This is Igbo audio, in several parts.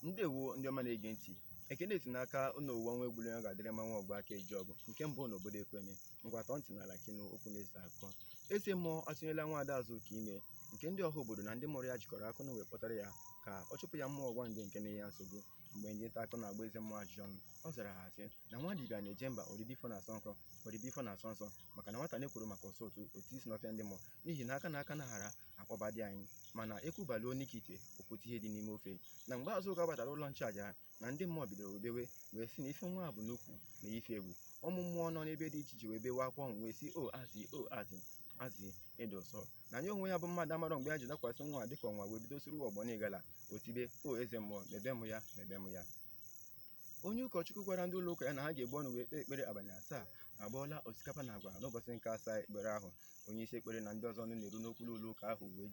ndewo ndị ọma na-ege ntị ekene si n'aka ọnụ ụwa nwa egbule ọ ga-adịrị mma nwa ọgba aka eje ọgụ nke mbụ na obodo ekweme ngwa tọọ ntị n'ala ka ị nụ okwu na-ese akụkọ eze mmụọ atụnyela nwa ada azụka ime nke ndị ọha obodo na ndị mụrụ ya jikọrọ aka na wee kpọtara ya ka ọ chụpụ ya mmụọ ọgbanje nke na-enye ya nsogbu mgbe ndị nta akụkọ na-agba eze mmụọ ajụjụ ọnụ ọ zara ha sị na nwa dibịa na-eje mba ọ dịghị ife ọ na-asọ nsọ maka na nwata na-ekwuru maka ọsọ otu isi n'ọfịa ndị mmụọ n'ihi na aka na aka na hara akpọbadị anyị mana eku baluo n'ike ite o kute ihe dị n'ime ofe na mgbe azụka batara ụlọ nchụaja na ndị mmụọ bidoro bewe wee sị na ife nwa a bu n'ukwu na ife egwu ụmụ mmụọ nọ n'ebe dị iche iche wee bewe akwa ọnwụ wee sị o azị o azị azị ị dị ụsọ na ya onwe ya bụ mmadụ amarọ mgbe ya ji dakwasị nwa a dịka enwe wee bido soro ọgbọ n'ịgala o tibe o eze mmụọ mebe m ya mebe m ya onye ụkọchukwu gwara ndị ụlọ ụka ya na ha ga-ebu ọnụ wee kpee ekpere abalị asaa agbọọla osikapa na agwa n'ụbọchị nke asaa ekpere ahụ onye isi ekpere na ndị ọzọ nọ na-arụ n'okpuru ụlọ ụka ahụ wee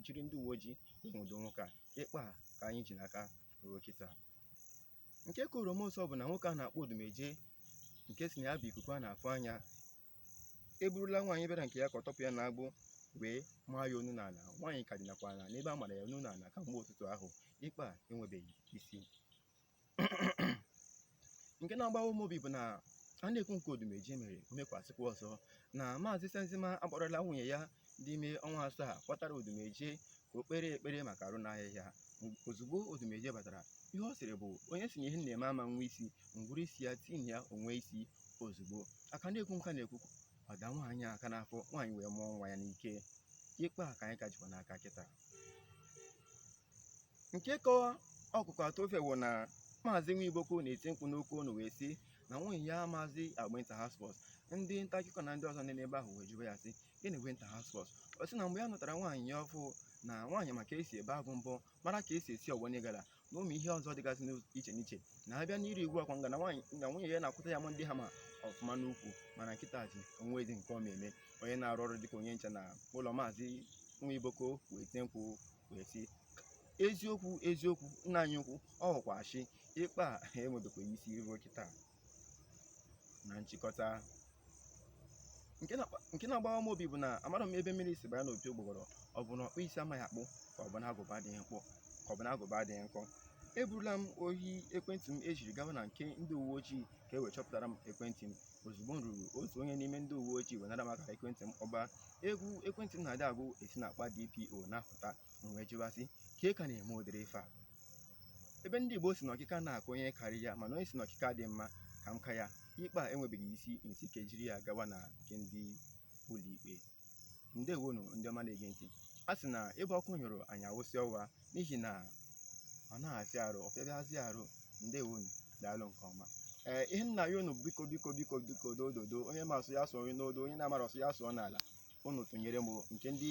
jiri ndị uwe ojii nwụdo nwoke a ikpe a ka anyị ji n'aka ruo kịta nke ka oroma ụsọ bụ na nwoke a na-akpọ odumeje nke sị na ya bụ ikuku a na-afụ anya eburula nwaanyị bịara nke ya ka ọ tọpụ ya na agbụ wee maa ya onu n'ala nwaanyị ka dinakwa ala n'ebe a mara ya onu n'ala kamgbe ụtụtụ ahụ ikpe a enwebeghị isi nke na-agbawa m obi bụ na a na-ekwu nke odumeje mere mekwasịkwa ọzọ na maazị senzima akpọrọla nwunye ya dị ime ọnwa asaa kpọtara odumeje ka o kpere ekpere maka arụ na-ahịa ya ozugbo odumeje batara ihe ọ sịrị bụ onye sị na ihe m na-eme ama enwe isi m gburu isi ya tinye ya o nwee isi ozugbo a ka na-ekwu nke a na-ekwu ọ da nwaanyị a aka n'afọ nwaanyị wee mụọ nwa ya n'ike ikpe a ka anyị ka jikwa n'aka kịta nke ka ọkụkọ atọ ofe wụ na maazị nwiboko na-eti mkpu n'oke onu wee sị na nwunye ya na-azị agba inter house sports ndị nta akụkọ na ndị ọzọ nọ n'ebe ahụ wee jụwa ya sị gịnị bụ inter house sports ọ sị na mgbe ya nụtara nwaanyị ya ọfụụ na nwaanyị ma ka esi ebe agụ mbọ mara ka esi esi ọgbọ n'ịgala na ụmụ ihe ọzọ dịgasị n'iche n'iche na a bịa n'ịrị ugwu akwa nga na nwunye ya na-akwụta ya ma ndị ha ma ọfụma n'ukwu mana kịtazị o nwezị nke ọ ma eme onye na-arụ ọrụ dịka onye nche na ụlọ maazị nwiboko wee tie mkpu wee sị eziokwu eziokwu nna anyị ukwu ọ wụkwa asị ikpe a enwebekwa isi ruo kịta na nchịkọta nke na-agbawa m obi bụ na amarọ m ebe mmiri si banye n'opi ụgbọgọrọ ọ bụ na ọkpụ isi amaghị akpụ ka ọ bụ na agụba adịghị nkọ eburula m ohi ekwentị m ejiri gawa na nke ndị uwe ojii ka e wee chọpụtara m ekwentị m ozugbo m ruru otu onye n'ime ndị uwe ojii wee nara m akara ekwentị m kpọba egwu ekwentị m na-adị agụ esi na akpa dpo na-apụta m wee jụba sị ka ị ka na-eme ụdịrị ife a ebe ndị Igbo si na ọkịka na-akụ onye karị ya mana onye si na ọkịka dị mma ka m ka ya ikpe a enwebeghị isi m sị ka e jiri ya gawa na nke ndị ụlọikpe ndewonu ndị ọma na-ege ntị a sị na ebe ọkụ nyụrụ anyị awụsa ọwa n'ihi na ọ na-afịa arụ ọ fịabazị arụ ndewonu daalụ nke ọma ee ihe m na-ayọ unu biko biko biko biko doo doo doo onye ma asụ ya sụọ n'odo onye na-amarọ asụ ya sụọ n'ala unu tụnyere m nke ndị